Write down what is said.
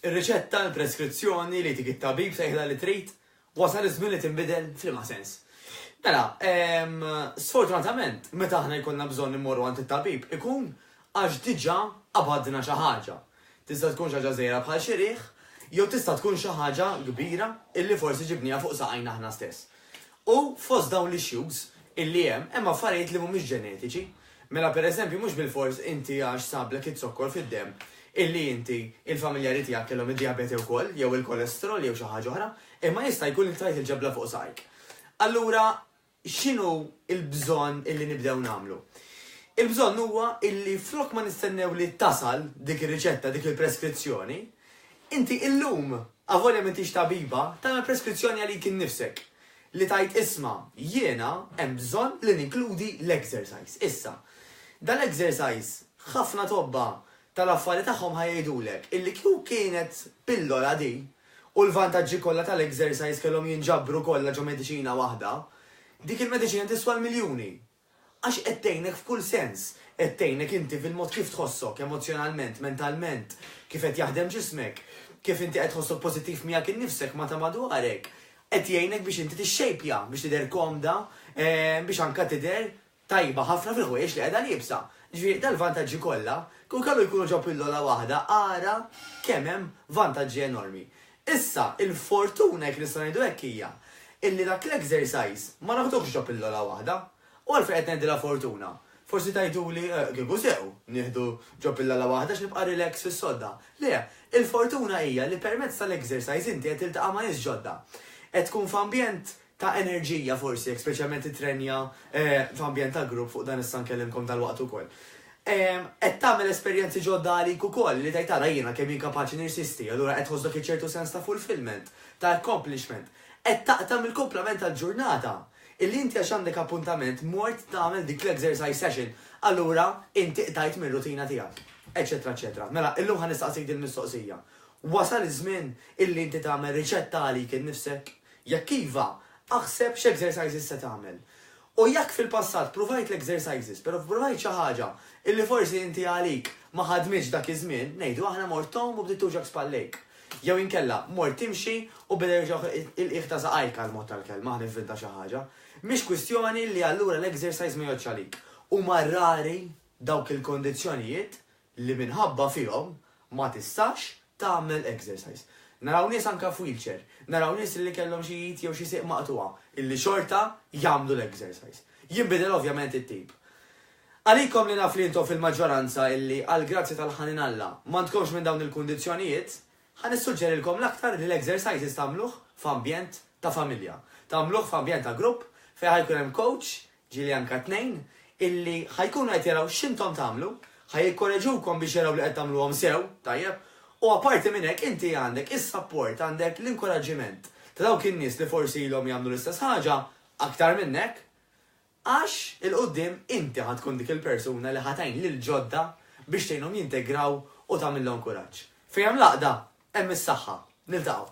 Ir-riċetta, il-preskrizzjoni li jtik it-tabib tgħidilha li trid, wasal iż-żmien li tinbidel f'liema sens? Mela, sfortunatament, meta aħna jkollna bżonn immorru għand it-tabib ikun għax diġà qabadna xi ħaġa. Tista' tkun xi ħaġa żgħira bħal xi riħ, jew tista' tkun xi ħaġa kbira illi forsi ġibniha fuq saqajna aħna stess. U fost dawn l-issues illi hemm, hemm affarijiet li mhumiex ġenetiċi. Mela per eżempju mhux bilfors inti għax sablek iz-zokkor fid-demm illi inti, il-familjari tiegħek kellhom id-dijabete wkoll jew il-kolesterol jew xi ħaġa oħra, imma jista' jkun li qtajt il-ġebla fuq saqajk. Allura x'inhu l-bżonn illi nibdew nagħmlu? Il-bżonn huwa illi flok ma nistennew li tasal dik ir-riċetta, dik il-preskrizzjoni, inti illum Avolja m'intix tabiba, tagħmel preskrizzjoni għalik innifsek. Li tgħid isma', jiena hemm bżonn li ninkludi l-exercise issa. Dal-exercise ħafna tobba tal-affari tagħhom ħa jgħidulek illi kieku kienet pillola di u l-vantaġġi kollha tal-exercise kellhom jinġabru kollha ġo mediċina waħda, dik il-mediċina tiswa l-miljuni. Għax qed tgħinek f'kull sens. Qed tgħinek inti fil-mod kif tħossok, emozzjonalment, mentalment, kif qed jaħdem ġismek, kif inti qed tħossok pożittiv miegħek innifsek ma' ta' madwarek. Qed jgħinek biex inti tixxejpja, biex tidher komda, biex anke tidher tajba ħafna fil-ħwejjeġ li qiegħda liebsa. Ġifieri, dal-vantaġġi kollha, kieku kellu jkunu ġo pillola waħda, ara kemm hemm vantaġġi enormi. Issa, il-fortuna, jekk nistgħu ngħidu hekk, hija illi dak l-exercise ma naħduhx ġo pillola waħda. U għalfejn qed ngħidilha fortuna? Forsi tgħiduli, eh, kieku sew, nieħdu ġo pillola waħda għax nibqa' relax fis-sodda. Le, il-fortuna hija li permezz tal-exercise inti qed tiltaqa' ma' nies ġodda. Qed tkun f'ambjent ta' enerġija forsi, jekk speċjalment titrenja f'ambjent ta' grupp, fuq dan issa nkellimkom dalwaqt ukoll. Qed tagħmel esperjenzi ġodda għalik ukoll, li tgħid ara jiena kemm jien kapaċi nirsisti, allura qed tħoss dak iċ-ċertu sens ta' fulfillment, ta' accomplishment. Qed taqta' mill-kumplament tal-ġurnata, illi inti għax għandek appuntament mort tagħmel dik l-exercise session, allura inti qtajt mir-rutina tiegħek. Eċċetera eċċetera. Mela, illum ħa nistaqsik dil-mistoqsija. Wasal iż-żmien illi inti tagħmel riċetta għalik innifsek? Jekk iva, aħseb x'exercises se tagħmel. U jekk fil-passat pruvajt l-exercises pero fpruvajt xi ħaġa illi forsi inti għalik ma ħadmitx dak iż-żmien, ngħidu aħna mort tgħum u bdiet tuġgħok spallejk. Jew inkella mort timxi u beda juġgħok il-qiegħ ta' saqajk għall-mod tal-kelma, ħa nivvinta xi ħaġa. Mhix kwistjoni li allura l-exercise ma jgħoddx għalik. Huma rari dawk il-kondizzjonijiet li minħabba fihom ma tistax tagħmel exercise. Naraw nies anke f'wheelchair, naraw nies li kellhom xi id jew xi sieq maqtugħa illi xorta jagħmlu l-exercise. Jinbidel ovvjament it-tip. Għalikom li naf li intom fil-maġġoranza illi għall-grazzja tal-ħanin Alla m'għandkomx minn dawn il-kundizzjonijiet, ħa nissuġġerilkom l-aktar li l-exercises tagħmluh f'ambjent ta' familja. Tagħmluh f'ambjent ta' grupp fejn ħa jkun hemm coach Ġieli anke tnejn illi ħa jkunu qed jaraw x'intom tagħmlu, ħa jikkoreġukom biex jaraw li qed tagħmluhom sew, tajjeb, u apparti minn hekk inti għandek is-sapport, għandek l-inkuraġġiment ta' dawk in-nies li forsi ilhom jagħmlu l-istess ħaġa aktar minnek, għax 'il quddiem inti ħa tkun dik il-persuna li ħa tgħin lill-ġodda biex tgħinhom jintegraw u tagħmilhom kuraġġ. Fejn hemm l-għaqda, hemm is-saħħa. Niltaqgħu.